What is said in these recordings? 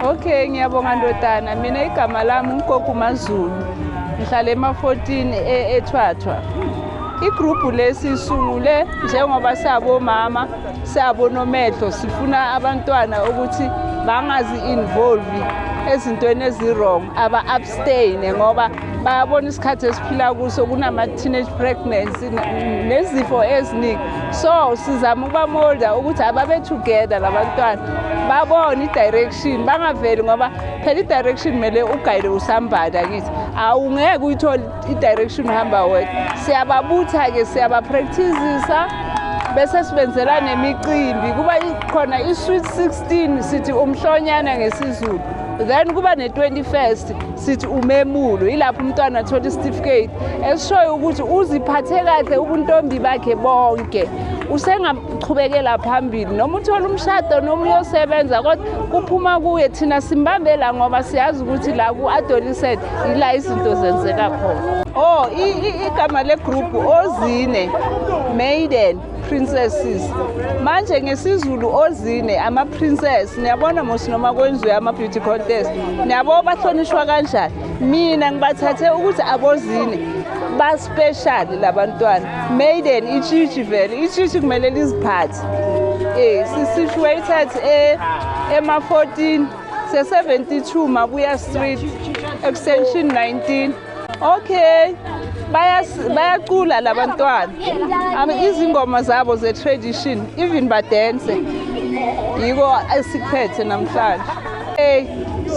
Okay, ngiyabonga ndodana. Mina igama lami uNkoku Mazulu. Ngihlala ema-14 e-, eThwathwa. Igroup lesi sungule njengoba sabomama, sabonomehlo sifuna abantwana ukuthi bangazi involve ezintweni ezirong aba abstain ngoba bayabona isikhathi esiphila kuso kunama-teenage pregnancy nezifo eziningi so sizama ukubamolda ukuthi ababe together labantwana babone i-direction bangaveli ngoba phela i-direction kumele ugayile usambada kithi awungeke uyithole i-direction uhamba wedwa siyababutha-ke siyabapractisisa bese sibenzela nemicimbi kuba khona i-sweet 16 sithi umhlonyana ngesizulu then kuba ne-21st sithi umemulo yilapho umntwana athola isitifiketi esishoyo ukuthi uziphathe kahle ubuntombi bakhe bonke usengaqhubekela phambili noma uthola umshado noma uyosebenza kodwa kuphuma kuye thina simbambela ngoba siyazi ukuthi la ku-adolescent yila izinto zenzeka khona o oh, igama legroup ozine maiden princesses manje ngesizulu ozine ama-princess niyabona mos noma kwenziwe ama-beauty contest niyabo bahlonishwa kanjani mina ngibathathe ukuthi abozine baspeshali la bantwana maiden itshitshi vele itshitshi kumele liziphathe um si-situated e, ema-14 se-72 mabuya street extension 19 Okay. bayacula labantwana izingoma zabo ze-tradition even badense yiko esikuphethe namhlanje hey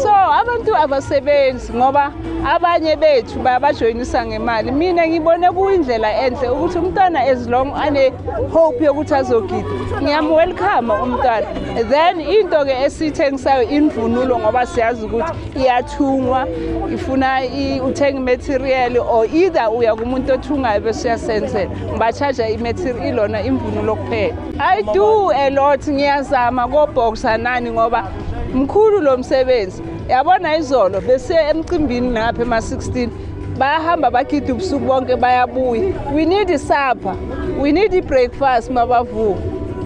so abantu abasebenzi ngoba abanye bethu bayabajoyinisa ngemali mina ngibone kuyindlela enhle ukuthi umntwana as long ane-hope yokuthi azogida ngiyamwelcome umntwana then into-ke esiyithengisayo imvunulo ngoba siyazi ukuthi iyathungwa ifuna uthenga imaterial or either uya kumuntu othungayo bese uyasenzela ngibachaja imaterial ilona imvunulo kuphela i do a lot ngiyazama koboxa nani ngoba mkhulu lo msebenzi yabona izolo besiye emcimbini ngapha ema-16 bayahamba bagida ubusuku bonke bayabuya we need supper we need i-breakfast mabavuka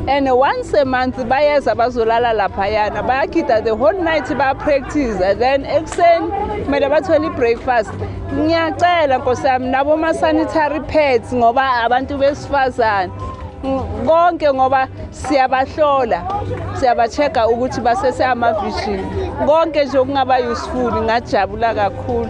and once a month bayeza bazolala laphayana bayagida the whole night bayapractice then ekuseni kumele bathole i-breakfast ngiyacela nkosi yami naboma-sanitary pads ngoba abantu besifazane konke ngoba siyabahlola siyabacheka ukuthi basese amavishini konke nje okungaba useful ngajabula kakhulu